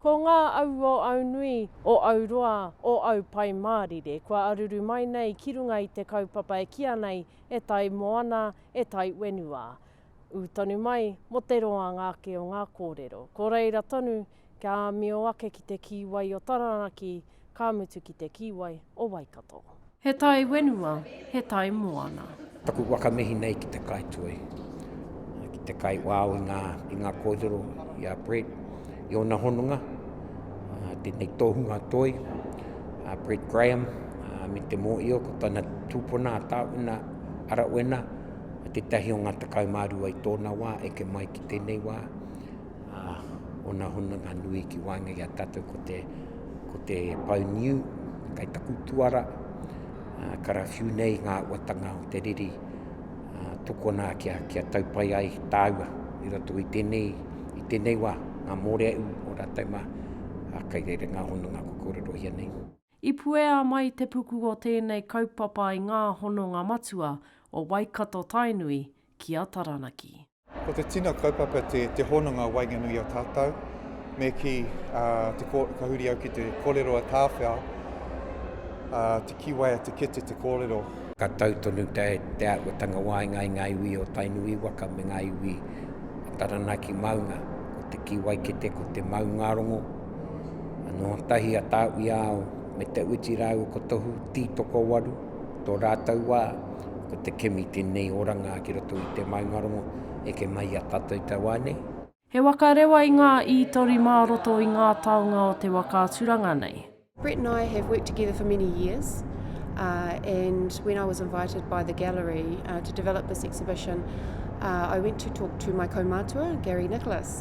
Ko ngā au o Aunui, o Auroa, o Aupai Mārire kua aruru mai nei ki runga i te kaupapa e kīa nei e tai moana, e tai whenua. Ū tonu mai, mō te roa ngā ake o ngā kōrero. Ko reira tonu, kia āmio ake ki te kīwai o Taranaki, ka mutu ki te kīwai o Waikato. He tai wenua, he tai moana. Taku whakamihi nei ki te kaituhi, ki te kaiwao i ngā, i ngā kōrero, i a Brett, i ōna hononga, tēnei tōhunga toi, a Brett Graham, me te mōhio ko tana tūpuna a Tāwhina Arawhena, I tētahi o ngā tekau mā rua i tōna wā, eke mai ki tēnei wā, ā, ōna hononga nui ki waenga i a tātou ko te, ko te pau niu, kai taku tuara, ā, karawhiu nei ngā uatanga o te riri, ā, tokona kia, kia tau pai ai tāua i roto i tēnei, i tēnei wā, ngā mōreaū o rātou mā, ā, kai reira ngā hononga kua kōrerohia nei. I puea mai te puku o tēnei kaupapa i ngā hononga matua o Waikato-Tainui ki a Taranaki. Ko te tino kaupapa te te hononga o waenganui a tātou me ki te ko, ka huri au ki te kōrero a Tāwhea, a Te Kiwai a Te Kete te kōrero. Ka tau tonu te te āhuatanga waenga i ngā iwi o Tainui waka me ngā iwi Taranaki maunga, ko te Kiwai Kete ko te maungarongo, Nō tahi a Tāwiao me Te Uti rāua ko Tohu Tītokowaru, tō rātou wā, ko te kimi tēnei oranga ki roto i te maungarongo, eke mai i a tātou te wā nei. He waka rewa i ngā ītori mā roto i ngā taonga o te waka aturanga nei. Brett and I have worked together for many years and when I was invited by the gallery to develop this exhibition I went to talk to my kaumatua, Gary Nicholas.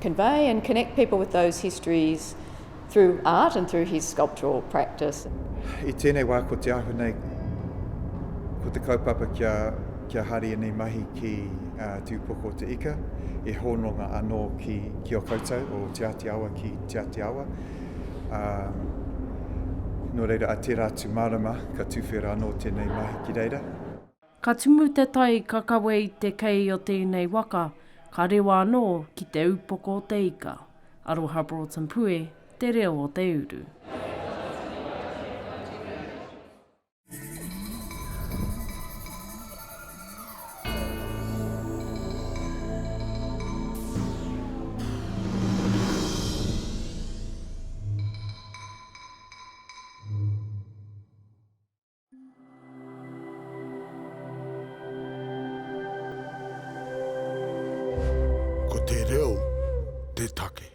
convey and connect people with those histories through art and through his sculptural practice. I tēnei wā ko te ahu nei, ko te kaupapa kia, kia hari enei mahi ki uh, Te Upoko o te Ika, e hononga anō ki, ki o koutou, o Te Āti Awa ki Te Āti Awa. Um, nō reira, a tērā atu marama, ka tūwhera anō tēnei mahi ki reira. Ka tumu te tai ka kawe i te kei o tēnei waka, ka rewa anō ki te upoko o te ika. Aroha Broughton Pue, Te Reo o te Uru. Ko te reo te take.